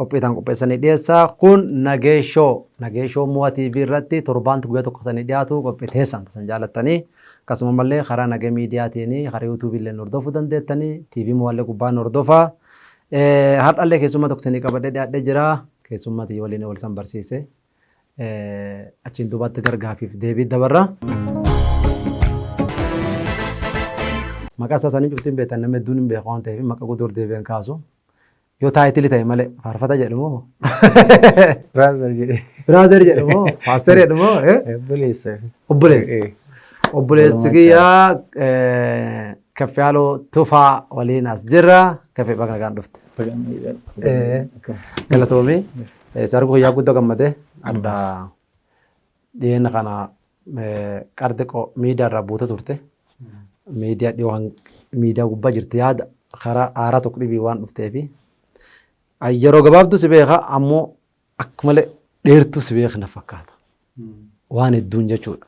Qophii isaan qopheessan ni dhiyeessa. Kun Nagee Show. Nagee Show Mo'a TV irratti torbaanti guyyaa tokko sanii dhiyaatu qophii teessan tasan jaalattanii. Akkasuma mallee karaa Nagee Miidiyaatiin karaa YouTube illee hordofuu dandeettanii. TV Mo'a illee gubbaan hordofa. Har'a illee keessummaa tokko sanii qabadhee dhiyaadhee jira. Keessummaa tiyya waliin wal san barsiise. Achiin duubatti gargaafiif deebii dabarra. Maqaa isaa sanii cuftiin beektan namni hedduun hin beeku waan ta'eef maqaa guddoo deebi'een kaasu. Yoo taayitili ta'e malee faarfata jedhu moo? Brother jedhee. Brother jedhu moo? Pastor jedhu moo? Eh? Obboleessa. Obboleessa. Eh, Obboleessi Obbolummaa kiyyaa eh, Kaffiyaaloo Tufaa waliin as jirra. Kaffee bakka nagaan dhufte. baga nagaan. Eh. Galatoomi. Eh, Sargu kiyyaa guddoo gammadee. Adda Dhiyeenya kana qar xiqqoo miidiyaa irraa buute turte. Miidiyaa dhiyoo miidiyaa gubbaa jirti yaada karaa aaraa tokko dhibii waan dhufteefi. Yeroo gabaabduu si beeka ammoo akka malee dheertuu si beekna fakkaata. Waan hedduun jechuudha.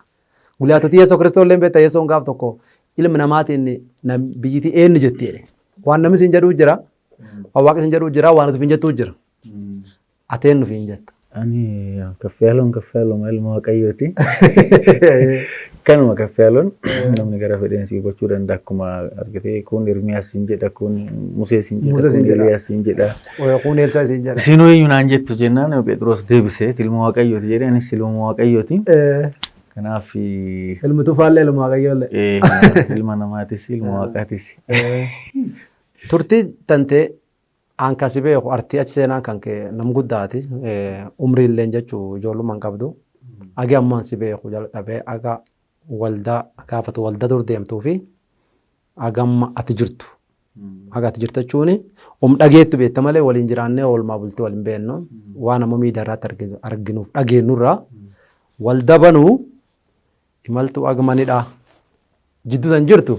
Gulyaatota Yesuus Kiristoos illee beekta Yesuun gaaf tokko ilmi namaatiin biyyitii eenyu jetti jedhe. Waan namni siin jedhuu jira. Waan waaqni siin jedhuu jira. Waan nuti hin jettuu jira. Ati eenyu ofiin jetta? Ani Kaffiyaalon Kaffiyaaloma ilma Waaqayyooti. Kanuma Kaffiyaalon namni gara fedheen si hubachuu danda'a akkuma argitee kun Ermiyaas siin jedha kun Musee siin jedha Musee siin kun jedha. Eliyaas siin jedha. Kun Elsaa isin jedha. Isin eenyu naan jettu jennaan Phexros deebisee ilma Waaqayyooti jedhee anis ilma Waaqayyooti. Eh, Kanaaf eh, Ilmi tufaallee ilma waaqayyoollee. kanaaf ilma namaatis ilma Waaqaatis. Turtii tantee An kan si beeku RTH seenaan kan kee nam guddaati. Umriilleen jechu ijoollumma hin qabdu. Agi ammaan si beeku jalqabee aga waldaa gaafa ati waldaa dur deemtuu fi aga amma ati jirtu. Aga ati jirtu jechuun um dhageettu beekta malee waliin jiraannee oolmaa bultii wal hin beeknu. Waan amma miidiyaa irratti arginu arginuuf dhageenyu irraa waldaa banuu imaltuu aga manidhaa jidduu tan jirtu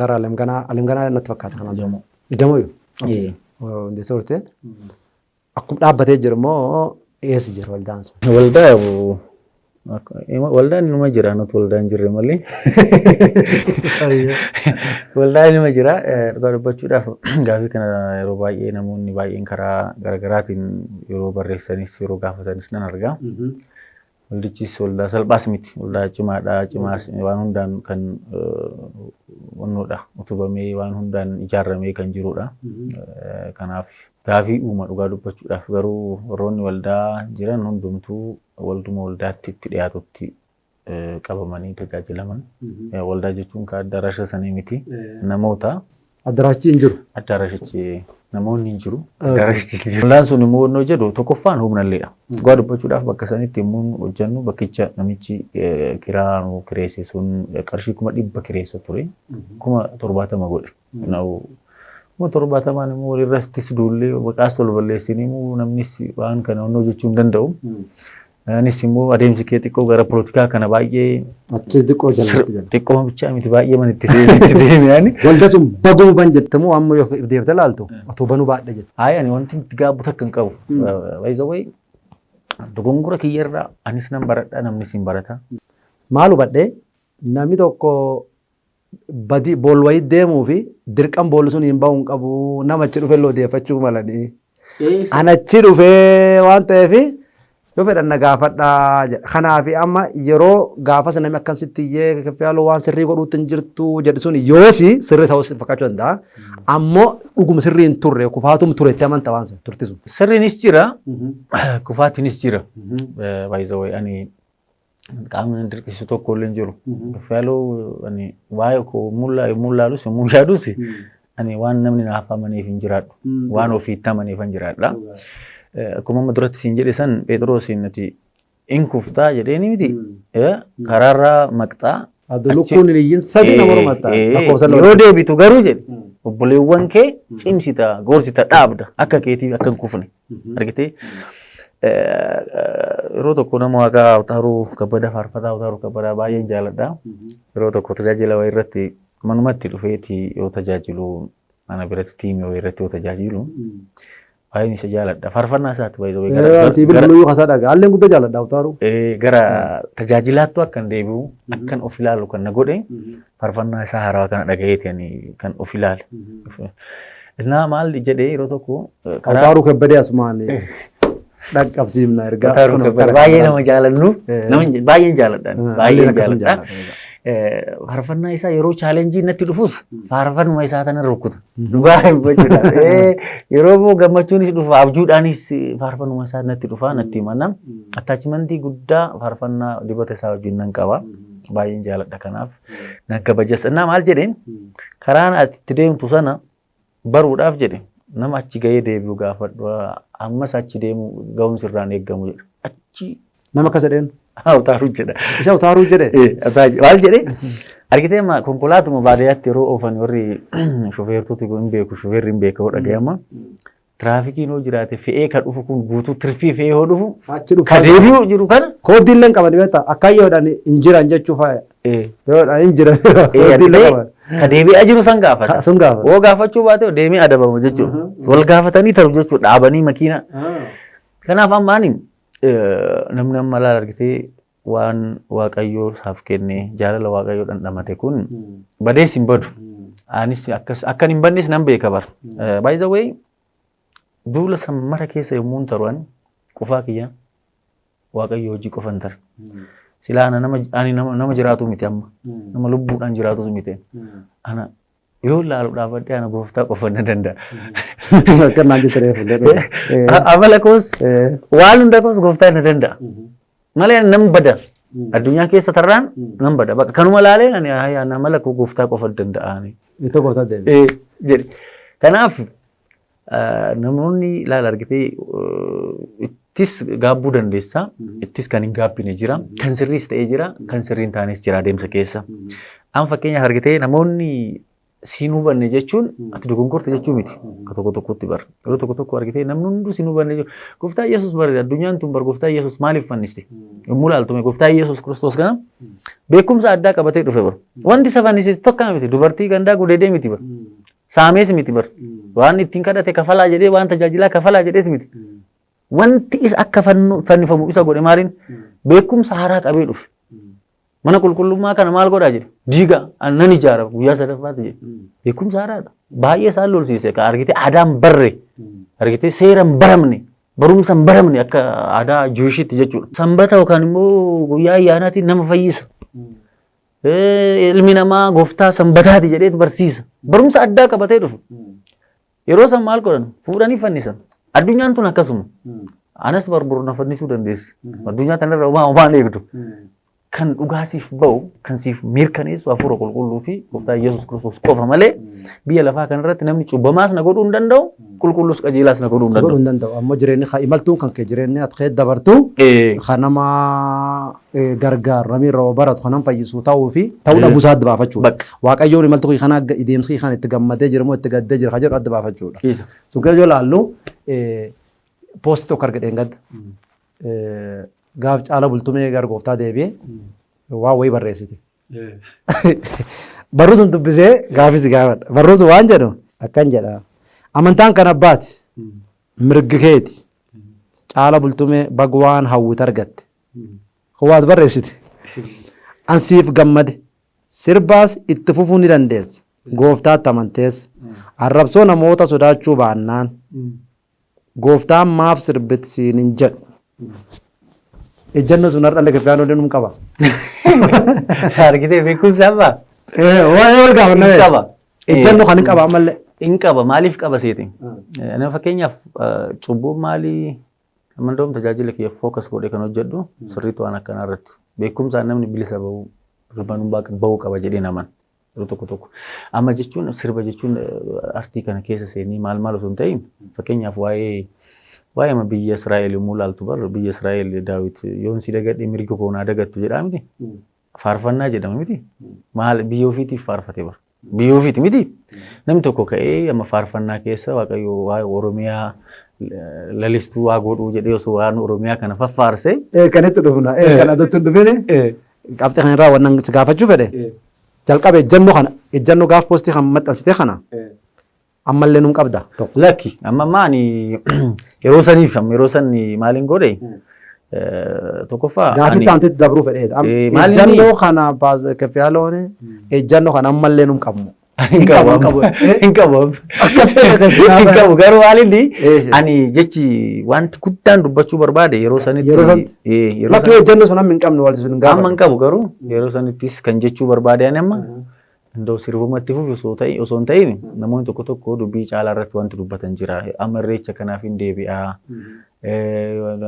gara alamganaa alamganaa natti fakkaata kanaan dura. Iddamoo yoo? Ee. Hundeessa turte. Akkuma dhaabbatee jiru immoo eessa jira waldaan sun? Waldaa bu- akka- ima- waldaan inuma jira nuti waldaa hin jirre malee waldaan inuma jira Eh, dhugaa dubbachuudhaaf gaafii kana yeroo baay'ee namoonni baay'een karaa garaagaraatiin yeroo barreessanis yeroo gaafatanis nan argaa Waldichis waldaa salphaas miti. Waldaa cimaadha. Cimaas waan hundaan kan wannoodha. Utubamee waan hundaan ijaarramee kan jirudha. Kanaaf gaafii uuma dhugaa dubbachuudhaaf garuu warroonni waldaa jiran hundumtuu walduma waldaatti itti dhiyaatutti qabamanii tajaajilaman. Waldaa jechuun kaa addarasha sanii miti. Namoota Addaraashichi hin jiru. Addaarashichi namoonni hin jiru. Addaarashichi hin jiru. Ollaan sun immoo onnoo jedhu tokkoffaan humnalleedha. Dhugaa dubbachuudhaaf bakka sanitti yommuun hojjennu bakkicha namichi eh, kiraa nu kireesse sun eh, qarshii kuma dhibba kireessa ture. Kuma torbaatama godhe. Na'u kuma torbaatamaan immoo walirrattis duullee maqaas wal balleessinee immoo namnis waan kana onnoo jechuu hin danda'u. Anis immoo adeemsi kee xiqqoo gara polotikaa kana baay'ee Achii xiqqoo jalatti gala. xiqqoo bichaa miti baay'ee man itti deeme itti deeme ani. Walda sun baguu ban jettamu amma yoo if deebite laaltu otoo banuu baadha jetta. Ayi ani wanti itti gaabbu takka hin qabu. Wayza way dogongora kiyyarraa anis nan baradha namnis hin barata. Maal hubadhee namni tokko badi bool wayii deemuu fi dirqan bool sun hin ba'uun qabu nama achi dhufe illee odeeffachuu malanii. Eessa? An achi dhufe waan ta'eef yoo fedhan na gaafadhaa jedha. Kanaaf amma yeroo gaafas namni akkan sitti iyyee kaffiyaaloo waan sirrii godhuutti hin jirtu jedhu sun yoosi sirrii ta'uu si fakkaachuu danda'a. Ammoo dhuguma sirrii hin turre kufaatum ture itti amanta waan sun turtisu. Sirriinis jira, kufaatiinis jira. Baay'ee ani qaamni na dirqisiisu tokko illee hin jiru. Fayyaloo ani waa'ee koo mullaa yommuu ilaalus yommuu yaadus ani waan namni naaf amaneef hin jiraadhu. Waan ofiitti amaneef hin jiraadha. Eh, Akkuma amma duratti siin jedhe san Phexroosiin ati in kuftaa jedheeni miti. Eh, Karaarraa maqxaa. Adda achi- lukkuun hin iyyin sadii nama Eh, mormatta. eh, Lakkoofsa lama. Yoo deebitu garuu jedhe obboleewwan kee cimsita, gorsita, dhaabda akka keetiif akka hin kufne. argitee yeroo tokko nama waaqaa Awtaaruu Kabbadaa faarfataa Awtaaruu Kabbadaa baay'een jaaladha. Yeroo tokko tajaajila wayii irratti manumatti dhufeeti yoo tajaajilu ana biratti tiimii wayii irratti yoo tajaajilu baay'een isa jaaladha. Faarfannaa isaatti baay'ee Sii bilbiluu yoo kasaa dhagaa. Haalleen guddaa jaaladha Awtaaruu. gara tajaajilaattu akkan deebi'u akkan of ilaalu kan na godhe Farfannaa isaa haarawaa kana dhagayeeti ani kan of ilaale. Innaa maal jedhee yeroo tokko Hautaaruu kebbadee asumaan dhaqqabsiifna ergaa. Hautaaruu kebbadee baay'ee nama jaalannu baay'een jaaladha baay'een jaaladha. Farfannaa isaa yeroo chaalenjii natti dhufus faarfannuma isaa tana rukuta. Dhugaa dubbachuudhaaf yeroo immoo gammachuunis dhufa abjuudhaanis faarfannuma isaa natti dhufa natti himana. Attaachimantii guddaa faarfannaa dibata isaa wajjin nan qaba. Baay'een jaaladha kanaaf na kabajas. Innaa maal jedheen karaan ati itti deemtu sana baruudhaaf jedhe nama achi gahee deebi'u gaafadhu ammas achi deemu ga'umsi irraan eegamu jedhe. Achi Nama akkas jedheen utaaru jedha. isa utaaruu jedhe. Eh, ataa- Maal jedhee argitee ma konkolaatuma baadiyyaatti yeroo oofan warri shufeertoti hin beeku shufeerri hin beeku yoo dhaga'ama. Tiraafikiin yoo jiraate fe'ee ka dhufu kun guutuu tirfii fe'ee yoo dhufu Achi dhufu. ka deebi'u jiru kana Koodii illee hin qaban beektaa akka yoodhaan hin jiran jechuu faaya. ee, Yoodhaan hin jiran. ee, Koodii illee argitee? qaban. ka deebi'aa jiru san gaafata. Ka- sun gaafata. Yoo gaafachuu baate deemee adabama jechuudha. Mhm. Wal gaafatanii taru jechuudha dhaabanii makiinaa. Kanaaf amma ani eh, namni amma laal argitee waan waaqayyoo isaaf kenne jaalala waaqayyoo dhandhamate kun badees hin badu. Anis akkas akkan hin badnes nan beeka bar. By the way duula san mara keessa yommuu hin taru ani qofaa kiyya waaqayyoo hojii qofa hin tare. Silaa ana nama ani nama nama jiraatu miti amma. Nama lubbuudhaan jiraatu miti. Ana Yoo laalu dhaabadhee ana gooftaa qofa na danda'a. Akka naan jette reefu danda'e. A- Amala koos waan hunda koos gooftaa na danda'a. Malee ani nan bada. Addunyaa keessa tarraan nan bada. Bakka kanuma laaleen ani "Haa, yaa, amala koo gooftaa qofa danda'a. ani." Ittoo gooftaa deebi. Eh, jedhe. Kanaaf Namoonni laal argitee ittis gaabbuu dandeessa. Ittis kan hin gaabbine jira. Kan sirriis ta'ee jira. Kan sirriin taanis jira adeemsa keessa. Amma fakkeenyaaf argitee namoonni siin hubanne jechuun ati dogonkorte jechuu miti. Akka tokko tokkotti bar. Yeroo tokko tokko argitee namni hunduu siin hubanne jechuun gooftaa Yesuus bar addunyaan tun bar gooftaa Yesuus maaliif fannifti? Yommuu laaltume gooftaa Yesuus Kiristoos kana beekumsa addaa qabatee dhufe bar. Wanti isa fannisiisu tokko miti dubartii gandaa gudeedee miti bar. Saamees miti bar. Waan ittiin kadhate kafalaa jedhee waan tajaajilaa kafalaa jedhees miti. Wanti isa akka fannu- fannifamu isa godhe maaliin beekumsa haaraa qabee dhufe. Mana qulqullummaa kana maal godhaa jedhe diiga an- nan ijaara guyyaa sadaffaatti jedhe. Beekumsa haaraadha. Baay'ee isaan lolsiise ka argitee aadaan barre argitee seera hin baramne barumsa hin baramne akka aadaa Jiwishiitti jechuudha. Sanbata yookaan immoo guyyaa ayyaanaatiin nama fayyisa. Eh, Ilmi namaa gooftaa sanbataati jedheetu barsiisa. Barumsa addaa qabatee dhufu. Yeroo san maal godhan? Fuudhanii fannisan. Addunyaan tun akkasuma. Anas barbaadu na fannisuu dandeessi. Addunyaa kanarra homaa homaa hin eegdu. Kan dhugaa siif ba'u, kan siif mirkaneessu hafuura qulqulluu fi gooftaa Yesuus Kiristoos qofa malee biyya lafaa kanarratti namni cubbamaas na godhuu hin danda'u, qulqulluus qajeelaas na godhuu hin godhuu danda'u. hin danda'u. Ammoo jireenyi haa imaltuun kan kee jireenyi ati kee dabartu Eh, kan nama gargaarame irra baratu kanan fayyisu ta'uu fi ta'uu dhabuu isaa adda baafachuudha. Waaqayyoon imaltuu kee kana deemsa kee kana itti gammadee jira moo itti gaddee jira kan jedhu adda baafachuudha. Sun keessa yoo ilaallu poosti tokko arge dheengadda. Gaaf caala bultumee gara gooftaa deebi'ee waan wayii barreessite. Barruu sun dubbisee gaafis gaafadha. Barruu sun waan jedhu akkan jedha. Amantaan kan abbaati mirgi keeti caala bultumee bag waan hawwite argatte. Waad barreessite. An siif gammade. Sirbaas itti fufuu ni dandeessa. Gooftaatti amantees. Arrabsoo namoota sodaachuu baannaan Gooftaan maaf sirbit siin hin jedhu. Ejjanno sun har'allee Kiristaanonni num qaba. Argitee beekumsa amma? Waa'ee wal gaafanna. Hin qaba. Ejjanno kan hin qaba ammallee. Hin qaba. Maaliif qaba seetiin? Nama fakkeenyaaf cubbuun maalii Amma indoom tajaajila kiyya focus godhee kan hojjedhu sirriitti waan akkanaa irratti. Beekumsaan namni bilisa bahuu hirmaanuu baaka bahuu qaba jedhee naman. Yeroo tokko tokko. Amma jechuun sirba jechuun eh, artii kana keessa seenii maal maal osoo hin ta'in fakkeenyaaf waa'ee waa'ee amma biyya Israa'el yommuu laaltu bar biyya Israa'el Daawit yoon si dagadhe mirga koo naa dagattu jedhaa miti. Faarfannaa jedhama miti. Maal biyya ofiitiif faarfate bara. Biyya ofiiti miti. Namni tokko ka'ee amma faarfannaa keessa waaqayyo waa'ee Oromiyaa eh, lalistuu waa godhuu jedhee osoo waan Oromiyaa kana faffaarsee Ee kan itti dhufna. Ee kan adatti hin dhufini. Qabxii kana irraa waan si gaafachuu fedhe. Jalqaba ejjannoo kana ejjannoo gaaf poostii kan maxxansite kana Ammallee nun qabda tokko. Lakki amma amma ani yeroo saniif amma yeroo san maaliin godhe eh, tokkoffaa Gaafii ani- taantetti dabruu fedheedha. Am- Eh, maal inni? Ejjannoo kana baas- kaffiyaaloon ejjannoo kana ammallee nun qabnu. hin qabu hin qabu. amma. Eh? hin qabu amma. Akkas ta'e akkas ta'e. hin qabu garuu maalinni Eh, shit. ani jechi wanti guddaan dubbachuu barbaade yeroo sanitti Yeroo sanatti? eh, yeroo Lakkii sanatti- ejjannoo sun amma hin qabnu walti sun hin amma hin gaafanne. qabu garuu yeroo sanittis kan jechuu barbaade ani amma Andoo sirbuma itti fufi osoo ta'e osoo hin ta'in namoonni tokko tokko dubbii caalaa irratti wanti dubbatan jira. Amma irreecha kanaaf hin deebi'a.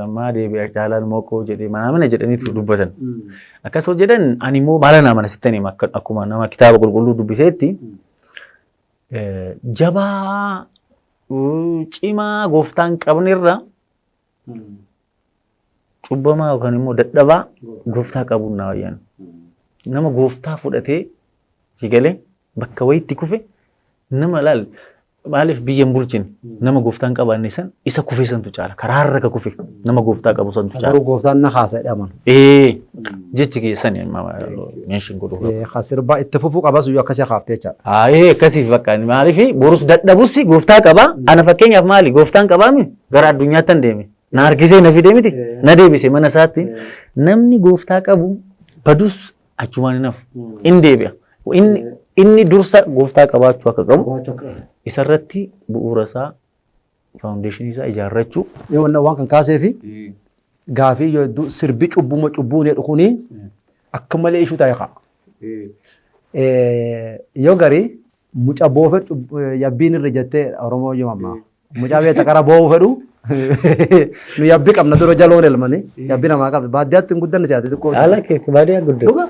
Ammaa deebi'a caalaan moqoo jedhe manaa mana jedhaniitu dubbatan. Akkas yoo jedhan ani immoo maala naa mana sittan hima akkuma nama kitaaba qulqulluu dubbiseetti jabaa cimaa gooftaan qabnerra Cubbamaa yookaan immoo dadhabaa gooftaa qabuun naa wayyan. Nama gooftaa fudhatee sigalee bakka wayitti kufe nama laal maaliif biyya hin bulchine nama gooftaa hin qabaanne san isa kufe santu caala karaa irra ka kufe nama gooftaa qabu santu caala. Garuu gooftaan na kaasa jedhaman. Ee jechi keessan meeshin godhu. Ka sirbaa itti fufuu qabas iyyuu akkasii kaaftee jechaadha. Aayee akkasiif bakka maaliif borus dadhabus gooftaa qaba. Ana fakkeenyaaf maali gooftaan qabaami Gara addunyaattan deeme. Na harkisee na fidee miti. Na deebise mana isaatti. Namni gooftaa qabu badus achumaan hin hafu. In deebi'a. Inni, inni dursa gooftaa qabaachuu akka qabu isarratti bu'uura isaa faawundeeshinii isaa ijaarrachuu Yoo wanna waan kan kaasee fi gaafii yoo hedduu sirbi cubbuma cubbuu jedhu kuni akka malee ishuu taa'e ka'a. Yoo garii Muca boo fedhu yabbiin irra jettee Oromoo yoo ammaa. Mucaa beekta qara boo'uu fedhu. Nu yabbi qabna dura jaloon elmani. Yabbi namaa qabdi. Baadiyyaatti hin guddanne si'aati xiqqoo. Haala kee baadiyyaa guddaa. Dhuga?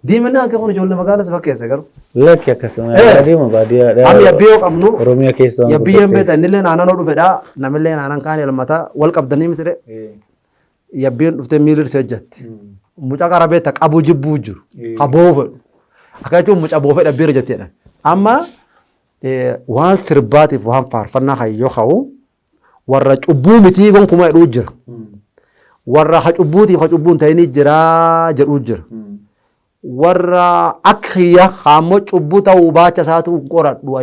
Diiminaa akka kun ijoollee magaalaa si fakkeesse garuu. Lakki akkasuma Eh. baadiyyaa baadiyyaa. Amma yabbi yoo qabnu Oromiyaa keessa. yabbi yoo hin beektan innillee naannoo dhufedha. Namillee naannoo kaan elmata wal qabdanii mitire. Yabbeen dhuftee miilli dhise ejjatti. Mucaa qara beekta qabuu jibbuu jiru. Ka boo'uu fedhu. Akka jechuun mucaa boofee dhabbeera jetti jedhan. Amma waan sirbaatiif waan faarfannaa kan yoo ka'u warra cubbuu mitii gonkumaa jedhuu jira. Warra ka cubbuutiif ka cubbuu hin ta'inii jira jedhuu jira. warra akka kiyya kaammoo cubbuu ta'uu baacha isaatu hin qoradhu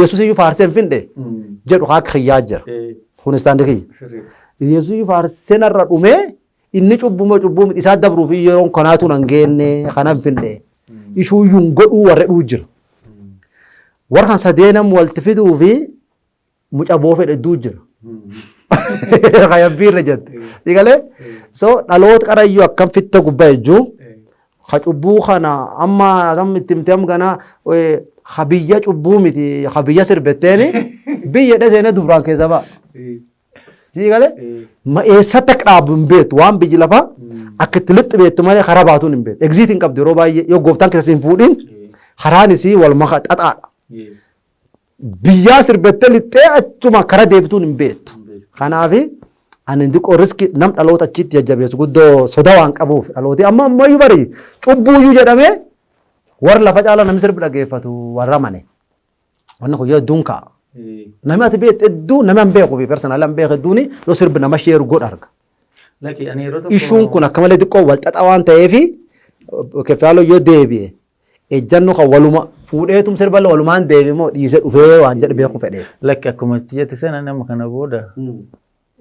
yesus iyyuu faarsee hin findhe jedhu kaa akka kiyyaa jira kun istaandi kiyya yesus iyyuu faarsee narra dhumee inni cubbuu moo cubbuu miti isaa dabruuf yeroon kanaatu nan geenne kana hin findhe ishuu iyyuu hin godhuu warra dhuu jira warra kan sadeenam walti fiduu fi muca boofe hedduu jira. Hayabbii irra jette. Dhigalee so dhaloota qarayyuu akkam fitta gubbaa ejjuu ha cubbuu kana amma akkam itti himte amma ganaa ha biyya cubbuu miti ha biyya sirbetteeni biyya dheseena dubraan keessa ba'a. Sii galee ma eessatti akka dhaabu hin beektu waan biyyi lafaa akka itti lixxi beektu malee karaa baatuun hin beektu. Egziitii hin qabdu yeroo baay'ee yoo gooftaan keessa hin fuudhin karaan isii wal maka xaxaadha. Biyyaa sirbattee lixxee achuma kara deebituun hin beektu. Kanaaf ani xiqqoo riski nam dhaloota achiitti jajjabeessu guddoo soda waan qabuuf dhalooti amma ammayyuu bari cubbuuyyuu jedhamee warra lafa caala namni sirbi dhageeffatu warra mane. Wanni kun yoo hedduun ka'a. Namni ati beektu hedduu namni an beeku fi personal an beeku hedduun yoo sirbi nama sheeru godha arga. Ishuun kun akka malee xiqqoo wal xaxaa waan ta'eef keffaaloo yoo deebi'e ejjanno kan waluma fuudheetum sirba walumaan deeme moo dhiise dhufee waan jedhe beeku fedhe. Lakki akkuma itti jette sana nama kana booda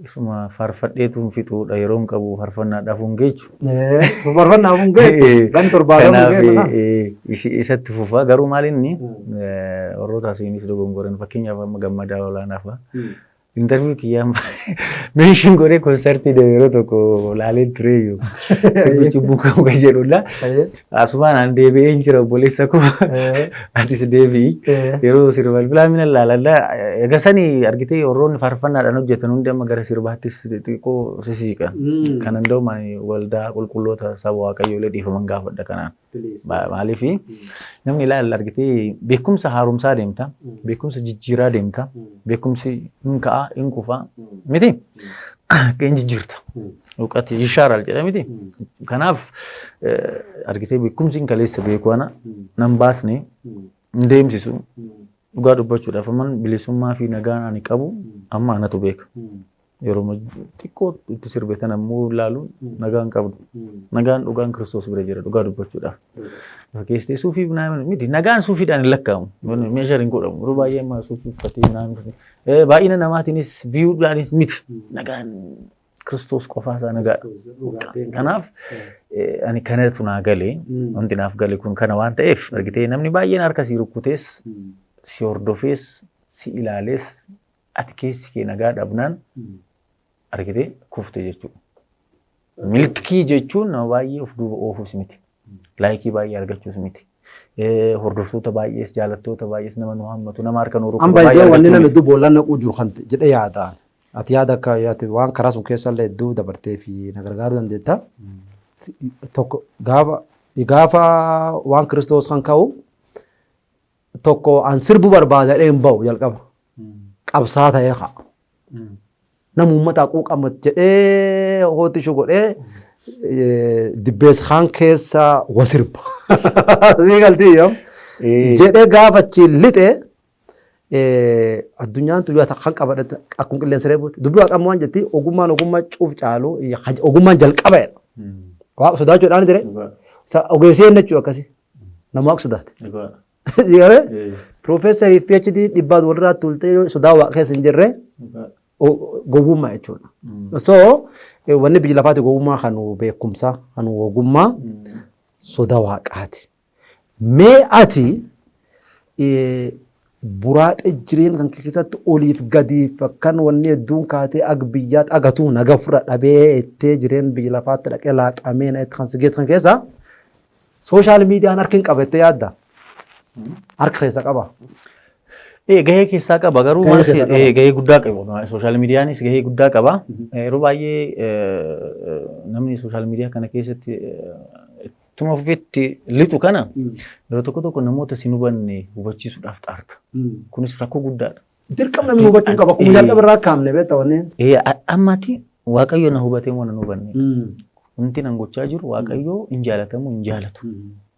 isuma faarfadheetuun fixuudha yeroon qabu faarfannaadhaaf hin geechu. Faarfannaaf hin geechu. Kan torbaadhaan hin geechu. Kanaaf isatti fufaa garuu maal inni warroota asiinis dogongoran fakkeenyaaf amma gammadaa olaanaa fa'a. Interview kiyyaan meeshiin godhee konsartii deeme yeroo tokko laaleen tureeyyu sirbi cubbuu qabu kan jedhudha. Asumaan an deebi'ee hin jira obboleessa koo atis deebi'i. Yeroo sirba bilbilaa mina laaladha. Egaa sani argitee warroonni faarfannaadhaan hojjetan hundi amma gara sirbaattis xixiqqoo sisiiqan. Kan danda'u waldaa qulqulloota saba waaqayyoolee dhiifaman gaafadha kanaan. Maaliif namni ilaala argitee beekumsa haaromsaa deemta, beekumsa jijjiiraa deemta, beekumsi hin ka'a, hin kufa, miti? Akka hin jijjiirta. Dhuqati yishaaral jedha miti? Kanaaf argitee beekumsi hin kaleessa beeku ana nan baasne hin deemsisu. Dhugaa dubbachuudhaaf amman bilisummaa fi nagaan ani qabu amma anatu beeka. Yeroo xiqqoo itti sirbe tan ammoo ilaaluun nagaan qabdu. Nagaan dhugaan kiristoos bira jira dhugaa dubbachuudhaaf. Fakkeessitee suufii naamin miti nagaan suufiidhaan hin lakkaa'amu. Meeshar hin godhamu. Yeroo baay'ee amma suufii uffatee naamin. Baay'ina namaatiinis biyuudhaanis miti. Nagaan kiristoos qofaa isaa nagaadha. Kanaaf ani kanatu naa galee wanti naaf gale kun kana waan ta'eef argitee namni baay'een harka sii rukkutees si hordofees si ilaalees Ati keessi kee nagaa dhabnaan argitee kufte jechuudha. Milkii jechuun nama baay'ee of duuba oofuus miti. Laayikii baay'ee argachuus miti. Eh, Hordoftoota baay'ees jaalattoota baay'ees nama nu hammatu nama harka nu An rukkutu baay'ee baay'ee wanni argachuu namni miti. hedduu boollaan naquu jiru kan jedhee yaada. Ati yaada akka yaati waan karaa sun keessa illee hedduu dabartee fi na gargaaruu dandeetta. Tokko gaafa gaafa waan kiristoos kan ka'u tokko an sirbu barbaada jedhee hin ba'u jalqaba. Qabsaa ta'ee haa. Nama uummata haquu qaba jedhee hooti ishuu godhee eh, dibbees kaan keessa wa sirba. Sii galtii yoom? jedhee gaafa achiin lixe eh, addunyaan tuyyaa takka kan qabadhe akkuma qilleensa reebuuti. Dubbii waaqammoo waan jetti ogummaan ogummaa cuuf caalu eh, haj- ogummaan jalqaba jedha. Waaqa sodaachuudhaan dire. Sa- Ogeessi eenyu jechuu akkasi. Nama akka sodaate. Dhugaa. Garee Eh, piroofeesarii fi PhD dhibbaan walirraa tuultee yoo sodaa waa keessa hin jirre Dhugaa. o- gowwummaa jechuudha. Mm. So eh, wanni biyya lafaati gowwummaa kan beekumsaa kan ogummaa Mm. soda waaqaati. Mee ati eh, buraaxee jireenya kan kee keessatti oliif gadiif akkan wanni hedduun kaatee ag biyyaatti agatuu naga fura dhabee ittee jireenya biyya lafaatti dhaqee laaqamee na itti kan si geessan keessaa Sooshaal miidiyaan harki hin qaba jettee yaadda? Harka keessa qaba. Ee, gahee keessaa qaba garuu Gahee maal keessaa si- qaba. ee, gahee guddaa qaba sooshaal miidiyaanis gahee guddaa qaba Eh, yeroo baay'ee eh, namni sooshaal miidiyaa kana keessatti eh, ittuma fufetti lixu kana yeroo tokko tokko namoota sin hubanne hubachiisuudhaaf xaarta kunis rakkoo guddaadha Dirqam namni hubachuu qaba. Akkuma jalqaba irraa kaamne beekta wanneen. Ee, a- Ammatti waaqayyo na hubatee moo nan hubanne. Wanti nan gochaa jiru waaqayyo hin jaalatamu hin jaalatu.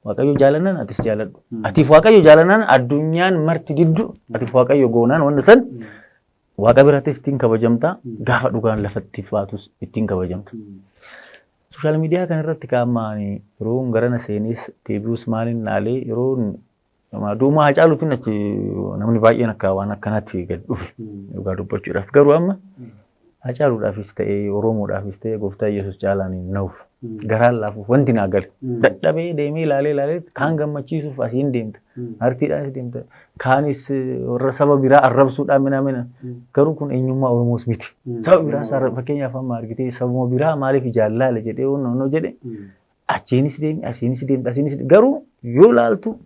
Waaqayyo jaalannaan atis jaaladhu. Atiif waaqayyo jaalannaan addunyaan marti diddu atiif waaqayyo goonaan wanta san waaqa birattis ittiin kabajamta gaafa dhugaan lafatti baatus ittiin kabajamta. Sooshaal miidiyaa kanarratti qaammaan yeroon garana seenees deebi'us maaliin laalee yeroon Nama duumaa Hacaaluutiin achi namni baay'een akka waan akkanaatti gad dhufe dhugaa dubbachuudhaaf. Garuu amma Hacaaluudhaafis ta'ee Oromoodhaafis ta'ee gooftaa Yesuus caalaan hin nahuuf. Garaan laafuuf wanti naa gale. Dadhabee deemee ilaalee ilaalee kaan gammachiisuuf asiin deemta. Artiidhaanis deemta. Kaanis warra saba biraa arrabsuudhaan mina mina. Garuu kun eenyummaa Oromoos miti. Saba biraa isaa fakkeenyaaf amma argitee sabuma biraa maaliif jaallaale jedhee honnoo jedhe Achiinis deemi, asiinis deemta, asiinis deemta. Garuu yoo ilaaltu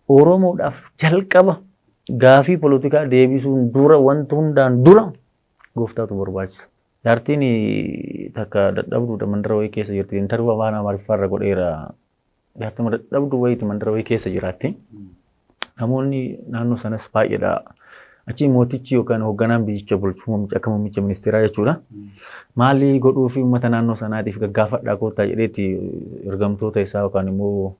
Oromoodhaaf jalqaba gaafii polotikaa deebisuun dura wanti hundaan dura gooftaatu barbaachisa. Jaartiin takka dadhabduudha mandara wayii keessa jirti. Intarviyuu afaan Amaariffaa irra godheera. Jaartuma dadhabduu wayiiti mandara wayii keessa jiraatti. Namoonni naannoo sanas baay'eedha. Achii mootichi yookaan hoogganaan biyyicha bulchu muummicha akka muummicha ministeeraa jechuudha. Maalii godhuu fi uummata naannoo sanaatiif gaggaafadhaa koottaa jedheeti ergamtoota isaa yookaan immoo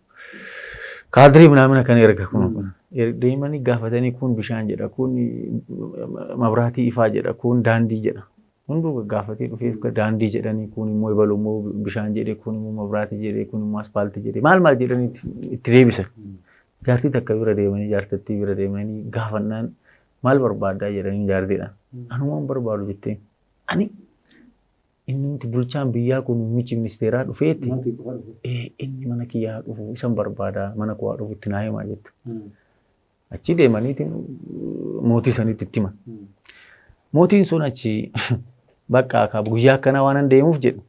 kaadirii minaamina kan erga kun kun. Er- Deemanii gaafatanii kun bishaan jedha kun mabraatii ifaa jedha kun daandii jedha. Hunduu gaggaafatee dhufeef daandii jedhanii kuun immoo ebalu immoo bishaan jedhe kuun immoo mabraati jedhe kuun immoo aspaalti jedhe maal maal jedhanii itti deebisan. Jaartii takka bira deemanii jaartattii bira deemanii gaafannaan maal barbaaddaa jedhanii jaartiidhaan. Anumaan barbaadu jetteen. Ani inni nuti bulchaan biyyaa kun muummichi ministeeraa dhufeetti inni mana kiyyaa dhufu isan barbaada mana koo haa dhufu itti naa himaa jette. Achii deemaniitiin mootii sanitti itti himan. Mootiin sun achi bakka akka guyyaa akkanaa waan an deemuuf jedhu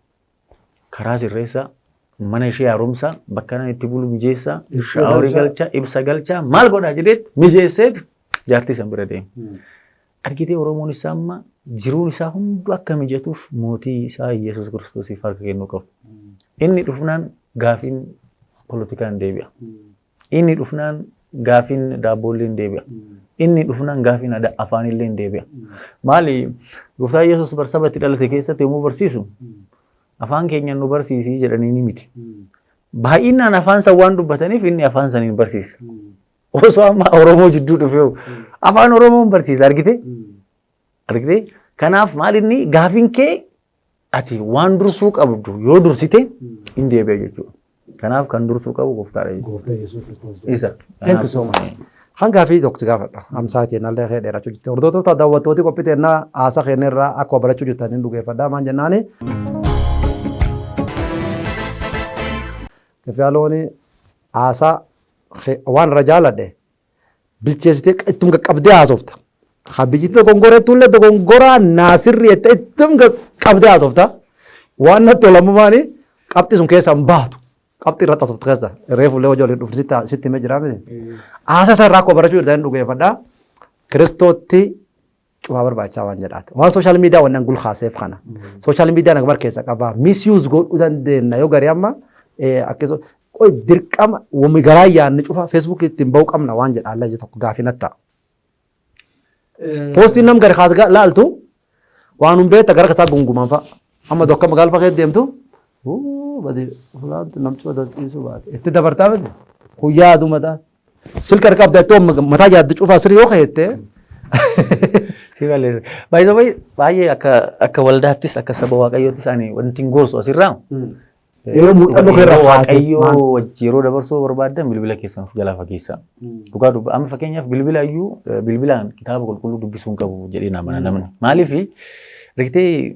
karaa sirreessaa mana ishee haaromsaa bakka nan itti bulu mijeessaa Ibsa shaaworii galchaa. galchaa ibsa galchaa maal godhaa jedheet mijeesseetu jaartii san bira deema. Argitee Oromoon isaa amma jiruun isaa hundu akka mijatuuf mootii isaa Iyyasuus Kiristoosiif harka kennuu qabu. Inni dhufnaan gaafiin politikaan deebi'a. Inni dhufnaan gaafiin daabboollee hin deebi'a. Inni dhufnaan gaafiin ada- afaanillee hin deebi'a. Maali gooftaa Yesuus barsaba itti dhalate keessatti yommuu barsiisu afaan keenya nu barsiisii jedhanii ni miti. Baay'inaan afaan san waan dubbataniif inni afaan saniin barsiisa. Osoo amma Oromoo jidduu dhufee afaan Oromoon barsiisa argite? Argite? Kanaaf maal inni gaafiin kee Ati waan dursuu qabdu yoo dursite hin deebi'a jechuudha. Kanaaf kan dursuu qabu gooftaadha jechuudha. Gooftaa Yesuus Kiristoos. Isa. Thank you so much. Hanga fi tokko si gaafadha. Amsaa teennaa illee kee dheerachuu jirti. Hordoftoota daawwattooti qophii teennaa haasa keenya irraa akkuma barachuu jirtan hin dhugeeffadha. Maan jennaani. Kaffiyaalooni haasaa kee- waan irra jaaladhe bilcheessitee ittum qaqqabdee haasofta. Ha biyyitti dogongora jechuullee dogongora naasirri jettee ittum qaqqabdee haasofta. Waan natti olamu maali qabxii sun keessaa hin baatu. Qabxii irratti haasofta keessa reefullee hojii waliin dhufne sitti- sitti himee jira miti. Haasasa irraa koo barachuu irraa hin dhugeeffadha. Kiristootti cufaa barbaachisaa waan jedhaati. Waan sooshaal miidiyaa wanneen gulkaaseef kana. Sooshaal miidiyaa nagmar keessa qabaa. Misiyuus godhuu dandeenya yoo garii amma akkasoo qoy dirqama wami garaa yaadne cufaa feesbuukii ittiin ba'uu qabna waan jedha allayya tokko gaafii natti ta'a. Poostiin nam gari kaas laaltu waan hin beekta gara kasaa gunguman fa'a. Amma tokko magaal fakkee deemtu badi fulaantu namtu adarsiisuu baate itti dabartaa miti kun yaaduma ta'a. Silk harka qabda ittoo mataa yaaddu cufaa sirrii yoo ka'eette. Si balleessa. Baay'ee baay'ee baay'ee akka akka waldaattis akka saba waaqayyoottis ani wanti hin gorsu asirraa. Yeroo muuxannoo kee irraa Yeroo kaatee waaqayyoo maal- wajji yeroo dabarsuu barbaaddan bilbila keessan of jalaa fageessaa. Dhugaa dubba amma fakkeenyaaf bilbila iyyuu eh, bilbilaan kitaaba qulqulluu dubbisuu hin qabu jedhee na amana namni. Maaliif riktee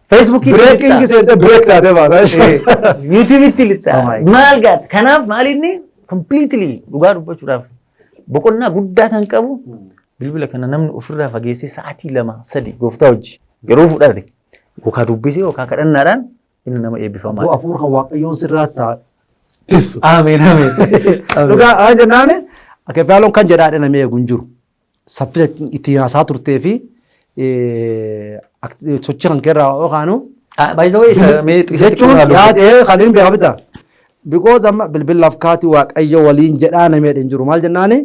Feesbuukii Breaking seentee break taatee baata. Yuutuubitti lixaa. Oh my God. Maal gaata? Kanaaf maal inni completely dhugaa dubbachuudhaaf boqonnaa guddaa kan qabu bilbila kana namni ofirraa fageessee sa'aatii lama sadi gooftaa hojii yeroo fudhate yookaan dubbisee yookaan kadhannaadhaan inni nama eebbifamaa. Abboo afuur kan waaqayyoon sirraa ta'a. Tissu. Ameen ameen. Dhugaa haa jennaani akka faaloon kan jedhaa dhinamee eegu hin jiru. saffisa ittiin haasaa turtee fi sochii kan keerraa yoo kaanu. By the way, isa mee xiqisa xiqqoo jechuun irraa dubbisa. yaadee kan hin beekamne ta'a. Because amma bilbilaaf kaati waaqayyo waliin jedhaa namee hin jiru maal jennaani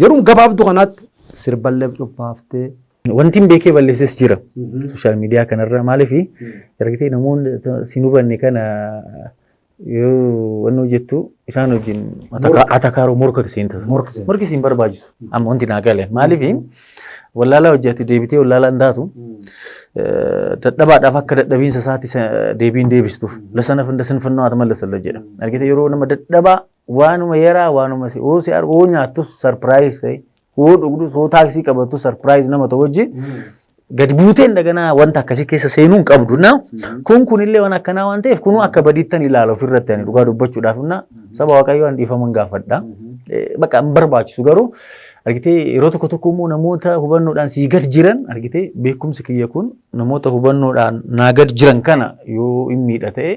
yeroo gabaabduu kanaatti sirballee cubbaaftee. Wanti hin beekee balleesses jira. Sooshaal miidiyaa kanarra maaliif ergitee namoonni si hin hubanne kana Yoo wanni hojjettu isaan wajjin Morka. atakaaroo morka kisiin tasa. Morki seena. Morki siin barbaachisu. Amma wanti naa galeen. Maaliif wallaalaa hojii ati deebitee wallaalaa hin taatu. Eh, Dadhabaadhaaf akka dadhabiinsa isaatti sa- deebiin deebistuuf. Lasana funda sinfannoo ati mallasalla jedha. Argite yeroo nama dadhabaa waanuma yaraa waanuma si oo si argu oo nyaattus sarpiraayis ta'e Hoo dhugdus hoo taaksii qabattu sarpiraayiz nama ta'u wajji gad buuteen daganaa wanta akkasii keessa seenuu hin qabdu na kun kunillee waan akkanaa waan ta'eef kunuu akka badiittan ilaala ofirratti ani dhugaa dubbachuudhaaf na saba waaqayyoo an dhiifaman gaafadha Eh, bakka hin barbaachisu garuu argitee yeroo tokko tokko immoo namoota hubannoodhaan sii gad jiran argitee beekumsi kiyya kun namoota hubannoodhaan naa gad jiran kana yoo hin miidha ta'e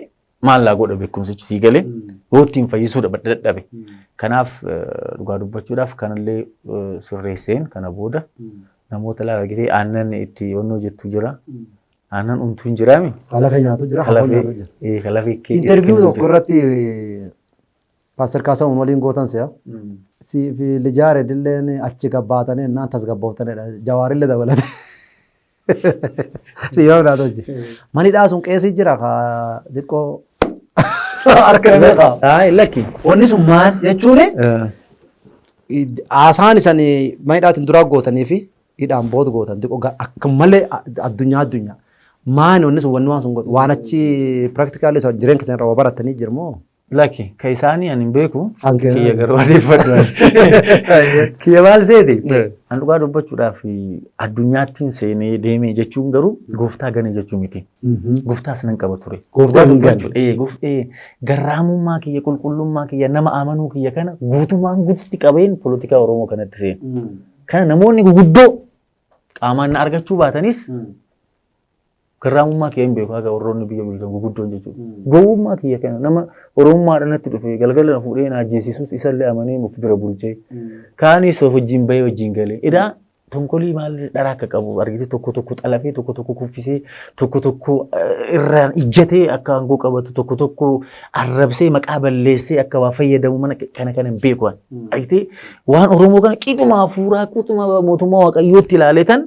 maal naa godha beekumsichi sii galee yoo ittiin fayyisuu dha- dadhabe. Kanaaf eh, dhugaa dubbachuudhaaf kanallee eh, sirreesseen kana booda namoota lafa argitee aannan itti onnoo jettu jira. Aannan untuu hin jiraami. Kalafee nyaatu jira, hamoo nyaatu Kalafee jira. eh, kalafee kee- Interviyu kee- tokko irratti Paaster Kaasahuun waliin gootan si'a. Siif lijaare dilleen achi gabbaatanii innaan tasgabbooftanidha. Jawaarillee dabalate. Dhiiroo naa tolche. Mani dhaa sun qeesii jira ka xiqqoo harka nama qaba. Ayi lakki. Wanni sun maal jechuun haasaan isan mani dhaatiin duraa gootanii fi hidhaan booda gootan xiqqoo ga- akka malee a- addunyaa addunyaa. Maani wanni sun wanni waan sun godhu waan achi piraaktikaali isa jireenya keessan irraa waa baratanii jirmoo? Laki ka isaanii ani hin beeku Kan kee- kiyya garuu adeeffadhu. Kiyya maal seete? Eh. An dhugaa dubbachuudhaaf addunyaattiin seenee deemee jechuun garuu gooftaa gane jechuu miti. Gooftaas nan qaba ture. Gooftaa Dhugaa hin gane. dubbachuudha. Ee, goof- ee, Garraamummaa kiyya, qulqullummaa kiyya, nama amanuu kiyya kana guutumaan guututti qabeen poolitikaa Oromoo kanatti seene. Kana namoonni guguddoo qaamaan na argachuu baatanis Garraamummaa kiyya hin beeku haga warroonni biyya bulchan guguddoon jechuudha. Gowwummaa kiyya kana nama Oromummaadha natti dhufe galgala na fuudhee na ajjeesisus isallee amanee of bira bulchee kaanis of wajjin bahee wajjin galee edaa tonkolii maal dharaa akka qabu argitee tokko tokko xalafee tokko tokko kuffisee tokko tokko eh, irraan ijjatee akka aangoo qabatu tokko tokko arrabsee maqaa balleessee akka waa fayyadamu mana kana kana hin beeku ani. Argitee waan Oromoo kana qixuma hafuuraa qixuma mootummaa waaqayyootti ilaalee tan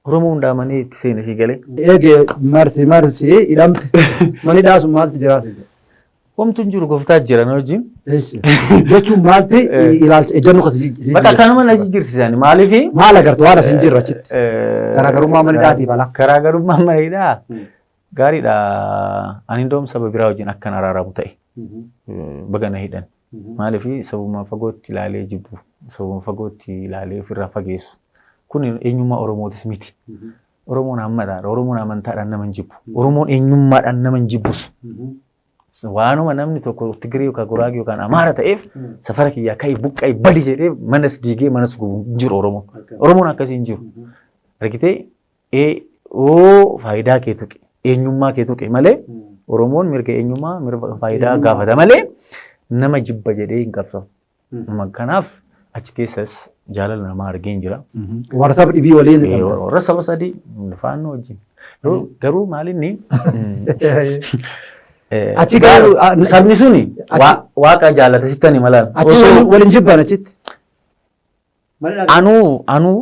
Oromoo hundaa manee itti seene sii galee. Eege marsi marsi hidhamte. Mani dhaasu maalti jiraate jedhe. Homtu hin jiru goftaa jira na wajjin. Eshi. Jechuun maalti ilaalcha ejjannu kasi jijjiirra. Bakka kanuma na jijjiirsisan maaliifi? Maal agartu waan asin jirra achitti. Garaagarummaa mana hidhaatiif ala. Garaagarummaa mana hidhaa gaariidha. Ani indoom saba biraa wajjin akkan araaramu ta'e. Baga na hidhan. Maaliif sabuma fagootti ilaalee jibbu, sabuma fagootti ilaalee ofirraa fageessu. Kun eenyummaa Oromootis miti. Oromoon hammadhaadha. Oromoon amantaadhaan nama hin jibbu. Oromoon eenyummaadhaan nama hin jibbus. Waanuma namni tokko Tigiree yookaan Guraagee yookaan Amaara ta'eef safara kiyyaa ka'ii buqqa'ii badi jedhee manas diigee manas gubu hin jiru Oromoon. Oromoon akkasii hin jiru. Argitee Ee, oo faayidaa kee tuqe, eenyummaa kee tuqe malee Oromoon mirga eenyummaa, mirga faayidaa Eenyummaa. gaafata malee nama jibba jedhee hin qabsaa'u. Nama Kanaaf achi keessas jaalala namaa argeen jira. Warra saba dhibii waliin Ee, qabda. Warra saba sadii faannoo wajjin. Garuu garuu maalinni eh, Achi garuu- ah, na- sabni suni achi- waa- waaqa jaalata sittani malaan. Achi Osoo- waliin- waliin jibban achitti. Anuu anuu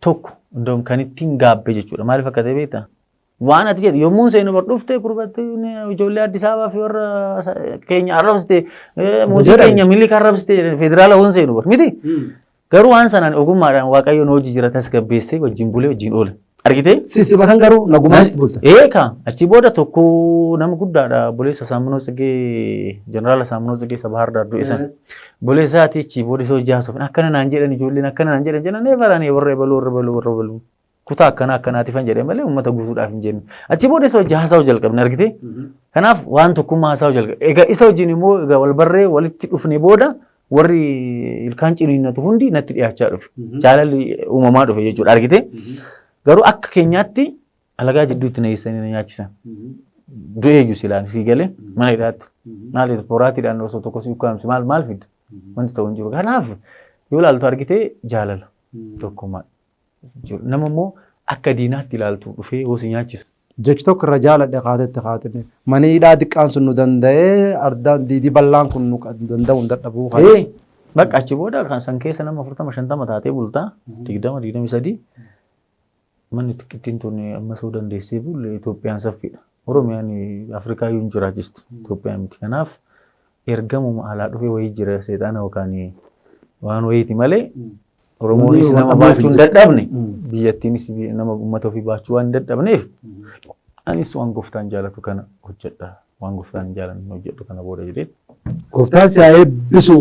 tokko iddoon kan ittiin gaabbe jechuudha. Maaliif akka ta'e beektaa? Waan ati jedhu yommuun seenu bar dhufte gurbatti ijoollee Addis Ababaa fi warra keenya arrabsite mootii keenya miliika arrabsite federaala hoon seenu bar miti. Garuu waan sanaan ogummaadhaan waaqayyoon hojii jira tasgabbeessee wajjin bulee wajjin oole. Argitee? Si si bakan garuu nagumaan itti bulta. Eeka achi booda tokko nama guddaadha boleessa Saamunoo Tsigee jeneraala Saamunoo Tsigee isa Bahaar Daar du'e sana. Boleessaati achi booda isa hojii haasofne akkana naan jedhan ijoolleen akkana naan jedhan jenna neefa raanii warra ebaluu warra ebaluu warra ebaluu. Kutaa akkana akkanaati fan jedhee malee uummata guutuudhaaf hin jennu. Achi booda isa hojii haasa'uu jalqabne argitee? Kanaaf waan tokkummaa haasa'uu jalqabne. Egaa isa wajjin immoo egaa wal barree walitti dhufne booda warri ilkaan ciniinnatu hundi natti dhiyaachaa dhufe. Jaalalli uumamaa dhufe jechuudha argite. Garuu akka keenyaatti alagaa jidduutti na eessanii na nyaachisan. Du'eeyyu silaan sii galee mana hidhaatti. Maal boraatiidhaan osoo tokko si ukkaamse maal maal fidda? Wanti ta'u hin jiru. Kanaaf yoo ilaaltu argite jaalala tokkummaa. jiru. Nama immoo akka diinaatti ilaaltu dhufee yoo si nyaachisu. Jechi tokko irra jaaladhe kaatee itti kaatine. Mani hidhaa diqqaan sun nu danda'ee ardaan diidii bal'aan kun nu danda'u hin dadhabuu kan. Ee bakka achi booda kan san keessa nama afurtama shantama taatee bultaa digdama digdami sadii manni xiqqittiin tun ammasuu dandeessee bulle Itoophiyaan saffiidha. Oromiyaan Afrikaa iyyuu hin jiraachisti. Itoophiyaa miti. Kanaaf ergamuma alaa dhufee wayii jira seexaana yookaan waan wayiiti malee Oromoonis nama baachuu hin dadhabne biyyattiinis nama uummata ofii baachuu waan hin dadhabneef anis waan gooftaan jaalatu kana hojjedha. Waan gooftaan hin jaalanne hojjedhu kana booda jedhee. Gooftaan si haa eebbisu.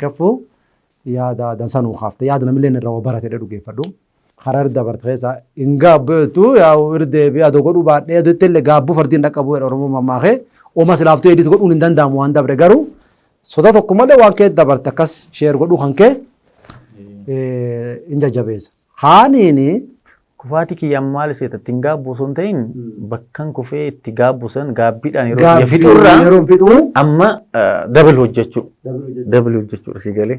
Kaffuu yaada dansaa nuu kaafte yaada namillee irraa waa barate dhugeeffadhu. Harar dabarte keessa hin gaabbu jettu yaa'u irra deebi'ee adoo godhuu baadhee adoo ittillee gaabbuu fardi hin dhaqqabu jedha Oromoon mammaakee oma silaaftuu edit godhuun hin danda'amu waan dabre garuu soda tokko malee waan kee dabarte akkas sheer godhuu kan kee hin jajjabeessa. Kaaniini Kufaatii kiyyaan maal seeta ittiin gaabbu osoo hin ta'in bakkan kufee itti gaabbu san gaabbiidhaan yeroo biyya gaabbii fixurraa yeroo fixuu amma dabal hojjechuu dabal hojjechuudha si galee.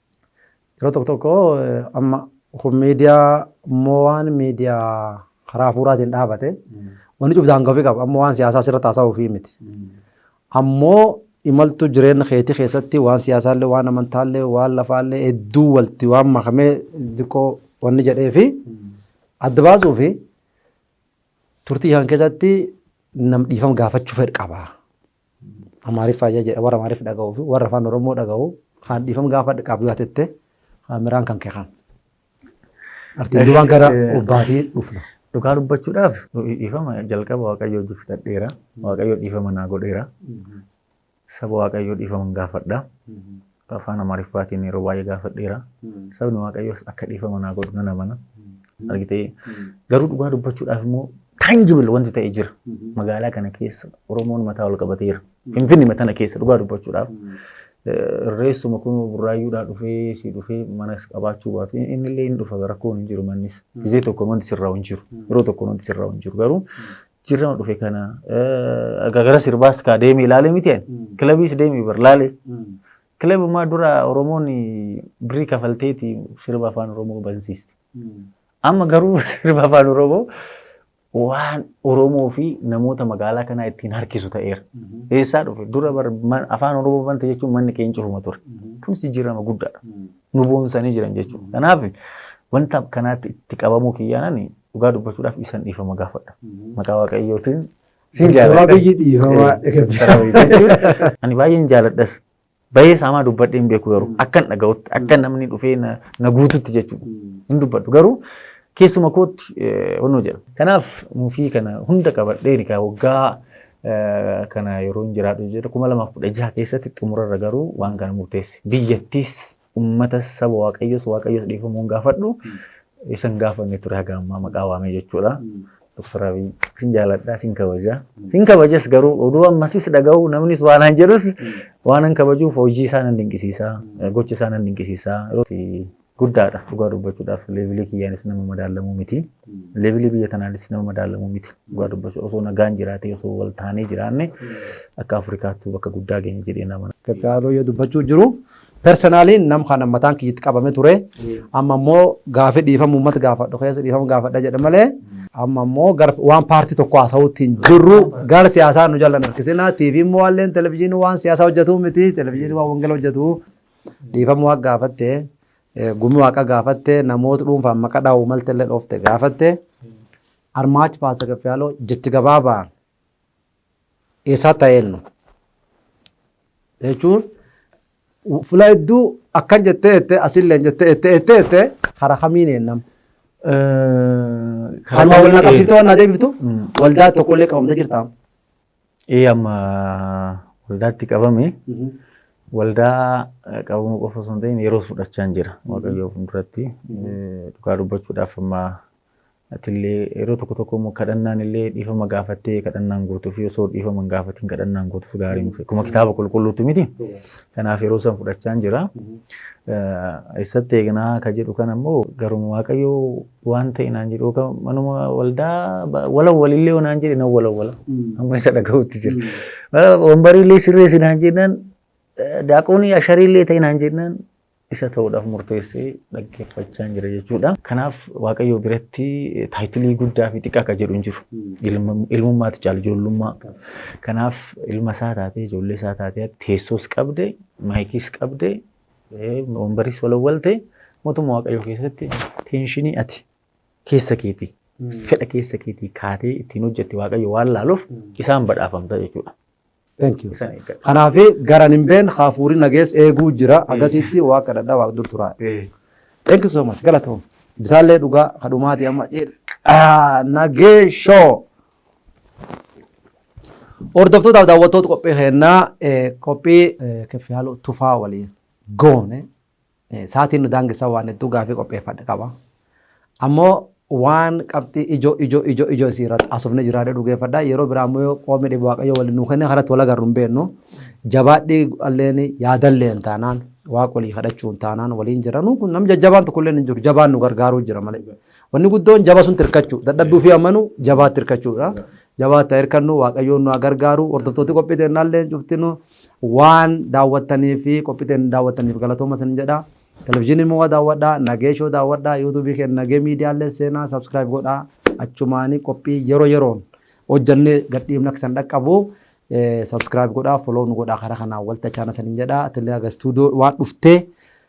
Yeroo tokko tokko amma kun miidiyaa immoo waan miidiyaa karaa hafuuraatiin dhaabate wanni cuf daangaa ofii qaba amma waan siyaasaa sirra taasaa ofii miti. Ammoo imaltuu jireenya keetii keessatti waan siyaasaallee waan amantaallee waan lafaallee hedduu walti waan makamee diqqoo wanni jedhee fi adda baasuu fi turtii kan keessatti nam dhiifama gaafachuu fedh qaba. Amaariffaa jedha warra Amaariffa dhaga'uu fi warra afaan Oromoo dhaga'u kaan dhiifama gaafadha qaabbii yoo tette kaameraan kan kee kan. Artiin duraan gara obbaatii dhufna. Dhugaa dubbachuudhaaf dhiifama jalqaba Waaqayyoo wajjin fixadheera. Waaqayyoo dhiifama naa godheera. Saba Waaqayyoo dhiifama gaafadha. Afaan Amaariffaatiin yeroo baay'ee gaafadheera. Sabni Waaqayyoos akka dhiifama naa godhu nan amana. Argitee garuu dhugaa dubbachuudhaaf immoo tangible wanti ta'e jira. Magaalaa kana keessa Oromoon mataa ol qabateera. Finfinnee tana keessa dhugaa dubbachuudhaaf. Reessuma kun burraayyuudhaa dhufee si dhufee manas qabaachuu baatu inni illee hin dhufa rakkoon hin jiru mannis. Gizee tokko wanti sirraa hin jiru. Yeroo tokko wanti sirraa hin jiru garuu Jirrama dhufe kana eh, gara sirbaas kaa deeme ilaale miti ani. Mm. Kilabiis deeme bar laale. Mm. Kilabumaa dura Oromoon birrii kafalteeti sirba afaan Oromoo bansiisti. Mm. Amma garuu sirba afaan Oromoo waan Oromoo fi namoota magaalaa kanaa ittiin harkisu ta'eera. Mhm. Eessaa dhufe dura bar man- afaan Oromoo banta jechuun manni keenya cufuma ture. Mhm. Kun jijjiirama guddaadha. Mm. Nu boonsanii jiran jechuudha. Kanaaf wanta kanaatti itti qabamuu kiyyaanani Dhugaa dubbachuudhaaf isan dhiifama gaafadha. Maqaa Waaqayyootiin sin Doktor jaalladha. Abiyyi dhiifamaa Doktor Abiyyi jechuun Ani baay'een jaalladhas. Baay'ee saamaa dubbadhee hin beeku garuu akkan dhaga'utti akka namni dhufee na na guututti jechuudha. Hin dubbadhu garuu keessuma kootti eh, honnoo jedha. Kanaaf muufii kana hunda qabadhee egaa waggaa eh, kana yeroo hin jiraadhu jedha kuma lamaaf kudha jaha keessatti xumurarra garuu waan kana murteesse. Biyyattiis Ummatas saba Waaqayyos Waaqayyos dhiifamuun gaafadhu isa hin gaafanne ture haga ammaa maqaa waamee jechuudha. Doktar Abiy sin jaaladha sin kabaja. Sin kabajas garuu oduu ammasis dhaga'u namnis waan an jedhus waan an kabajuuf hojii isaa nan dinqisiisa gocha isaa nan dinqisiisa. Guddaadha dhugaa dubbachuudhaaf leevilii kiyyaanis nama madaalamuu miti. Leevilii biyya tanaanis nama madaalamuu miti. Dhugaa dubbachuu osoo nagaan jiraatee osoo wal taanee jiraanne akka Afrikaattuu bakka guddaa geenye jedhee nama. Gaggaarii yoo dubbachuu jiru Personally nam kana mataan kiyya itti qabame ture amma immoo gaafi dhiifama uummata gaafadhu keessa dhiifama gaafadha jedha malee amma immoo gar waan paartii tokko haasawutti hin jirru gara siyaasaa nu jallan harkisina TV immoo waalleen televizyiinii waan siyaasaa hojjetu miti televizyiinii waan wangela hojjetu dhiifama waa gaafatte eh, gumi waaqa gaafatte namoota dhuunfaan maqaa dhaa'u malte illee dhoofte gaafatte armaachi paasa gaffiyaaloo jechi gabaabaan Eessaatti haa eennu? jechuun fula hedduu akkan jettee jette asillee jettee jette jettee jette karaa kamiin eennam? Kan wal na qabsiiftee waan na deebiftu waldaa tokkollee qabamtee jirtaa? Ee amma waldaatti qabame waldaa qabamuu qofa osoo hin ta'in yeroo fudhachaan jira waaqayyoo fuulduratti dhugaa dubbachuudhaaf amma Atillee yeroo tokko tokko immoo kadhannaan illee dhiifama gaafattee kadhannaan gootu fi osoo dhiifama hin gaafatiin kadhannaan gootus gaarii miti. Akkuma kitaaba qulqulluutti miti. Kanaaf yeroo san fudhachaan jira. Eessatti eegnaa ka jedhu kana immoo garuma waaqayyo waan ta'e naan jedhu yookaan manuma waldaa walawwalillee yoo naan jedhe nan walawwala. Amma isa dhagahutti jira. Wambariillee sirreessi naan jennaan daaqoonii ashariillee ta'e naan jennaan isa ta'uudhaaf murteesse dhaggeeffachaan jira jechuudha. Kanaaf Waaqayyoo biratti taayitilii guddaa fi xiqqaa akka jedhu hin jiru. Ilma- Ilmummaati caala ijoollummaa. Kanaaf ilma isaa taatee ijoollee isaa taatee teessoos qabde maayikiis qabde eh, wambariis walawwalte mootummaa Waaqayyoo keessatti teenshinii ati keessa keetii fedha keessa keetii kaatee ittiin hojjette Waaqayyo waan laaluuf isaan badhaafamta jechuudha. Thank you. isan eeggadha. Kanaafi garan hin been haafuuri nagees eeguu jira agasiitti waa kadhadha waa dur turaa. Eh, Thank you so much. Galatoom. Bisaallee dhugaa kadhumaati amma jedhe. Ah, Nagee shoo. Hordoftootaaf daawwattoota qophii kennaa eh, qophii eh, keffiyaaloo tufaa waliin goone Saatiin nu daangessa waan hedduu gaafii qopheeffadhe qaba. Ammoo waan qabxii ijoo ijoo ijoo ijoo isii irratti asofne jira jedhu geeffadha. Yeroo biraa ammoo yoo qoomni dhibu waaqayyo waliin nu kenne kanatti wal agarru hin beeknu. Jabaadhii alleen yaadalleen taanaan waaqa walii kadhachuun taanaan waliin jira. Nuun kun nam jajjabaan tokkollee hin jiru. Jabaan nu gargaaruu jira malee. Wanni guddoon jaba sun tirkachuu. Dadhabbii ofii amanuu jabaa tirkachuudha. Jabaa ta'e hirkannu waaqayyoon nu gargaaru. Hordoftooti qophii teennaallee cuftinuu. Waan daawwattanii fi qophii teenya daawwattaniif galatooma isin jedha. Televizyiinii Mo'aa daawwadhaa, Nagee Show daawwadhaa, YouTube keenya Nagee Miidiyaa illee seenaa subscribe godhaa. Achumaanii qophii yeroo yeroon hojjannee gadhiifna akka isin dhaqqabu subscribe godhaa, follow nu godhaa karaa kanaan walta chaana isin jedha. Atilee aga studio waan dhuftee